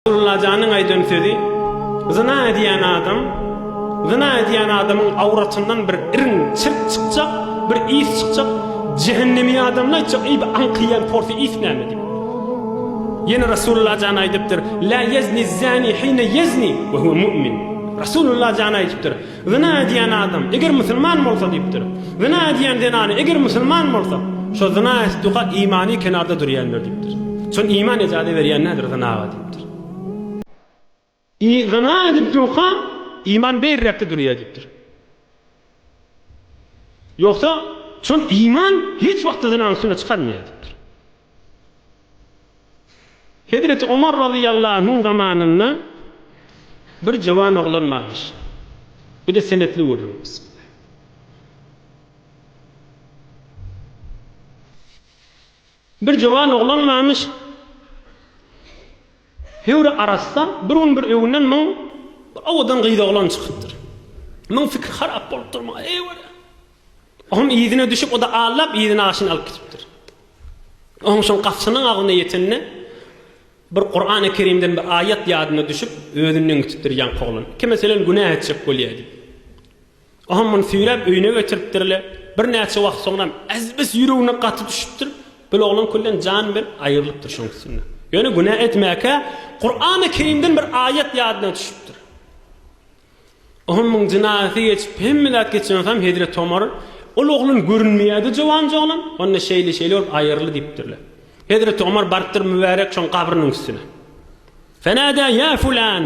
Abdullajanyň aýdan sözi, Zyna edýän adam, zyna edýän adamyň awratyndan bir irin çirk çykjak, bir ys çykjak, jehennemi adamlar aýtjak, eý, bu aňkyýan porsy ys näme diýip. Ýene Rasulullah jan aýdypdyr, La yezni zani hine yezni ve huve mu'min. Rasulullah jan aýdypdyr, Zyna edýän adam, eger musulman bolsa diýipdir. Zyna edýän zenany, eger musulman bolsa, şo zyna etduka imany kenarda durýandyr diýipdir. Şony iman ejaza berýän nädir zynaga diýipdir. I zyna edip durka iman beýrekde durýar diýipdir. Ýogsa, şon iman hiç wagtda zynany üstüne çykarmaýar diýipdir. Hezreti Omar razyýallahu zamanynda bir jöwan oglan barmyş. Bu-da senetli gürrüň. Bir jöwan oglan barmyş. Höwri arassa bir gün bir öwünden myň bir owadan gyzoglan çykypdyr. Myň pikir harap bolupdyr muňa eýwara. Oňam yzyna düşüp o-da allap yzyna aşyny alyp gitipdir. Oňam şoň gapjynyň agzyna ýetende bir Kurany Kerimden bir aýat ýadyna düşüp özünden gitipdir ýaňky oglan. Iki meselen günä etjek bolýa diýip. Oňam muny süýräp öýüne getiripdirle. Birnäçe wagt soňram Äzbes ýüregine gaty düşüpdir. Bil oglan külden jan berip aýrylypdyr şoň üstünde. Ýöne günä etmäkä, Kurany Kerimden bir aýat ýadyna düşüpdir. Oňam muň jynaýaty geçip, hemme zat geçen soňam hezreti Omar, Ol oglan görünmeýärdi jowanja oglan, onda şeýle-şeýle bolup aýyryldy diýipdirle. Hezreti Omar barypdyr mübärek şoň gabrynyň üstüne. Fenädä ýa fulan!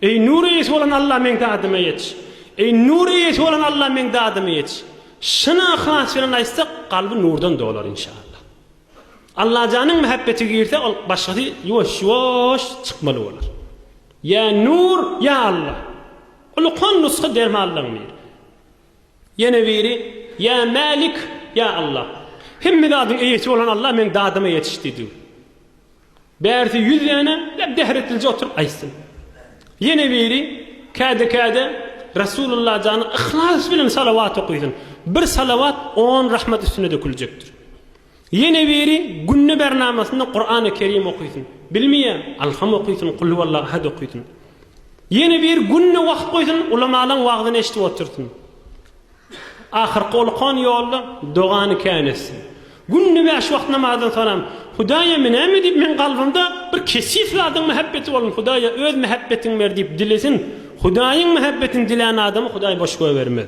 Eý, nur eýesi bolan Alla meň dadyma ýet! Eý, nur eýesi bolan Alla meň dadyma ýet! Çyn yhlas bilen aýtsak, kalby nurdan dolar inşallah. Allajanyň mähebbeti girse, ol başgasy ýuwaş-ýuwaş çykmaly bolar. Ýa nur, ýa Alla! Ulukan nusga dermanlaň diýr. Ýene biri, Ýa Mälik, ýa Alla! Hemme zadyň eýesi bolan Alla meň dadyma ýetiş diýdi. Bärisi ýüz däne ýa bähretlije oturyp aýtsyn. Ýene biri käde-käde Resulullah jana yhlas bilen salawat okysyn. Bir salawat on rahmat üstüne döküljekdir. Ýene biri günde bär namasynda Kurany Kerim okysyn. Bilmeýä, Alham okysyn, Kul huwallahu ahad okysyn. Ýene biri günde wagt goýsun, ulamalaň wagzyny eşidip otursyn. Ahyrky olkan ýolda dogany kän etsin. Günde bäş wagt namazdan soňam, Hudaýa menämi diýip meň kalbymda bir keşif zadyň mähebbeti bolun, Hudaýa öz mähebbetiňi ber diýip dilesin, Hudaýyň mähebbetini dilän adamy Hudaý boş goýbermez.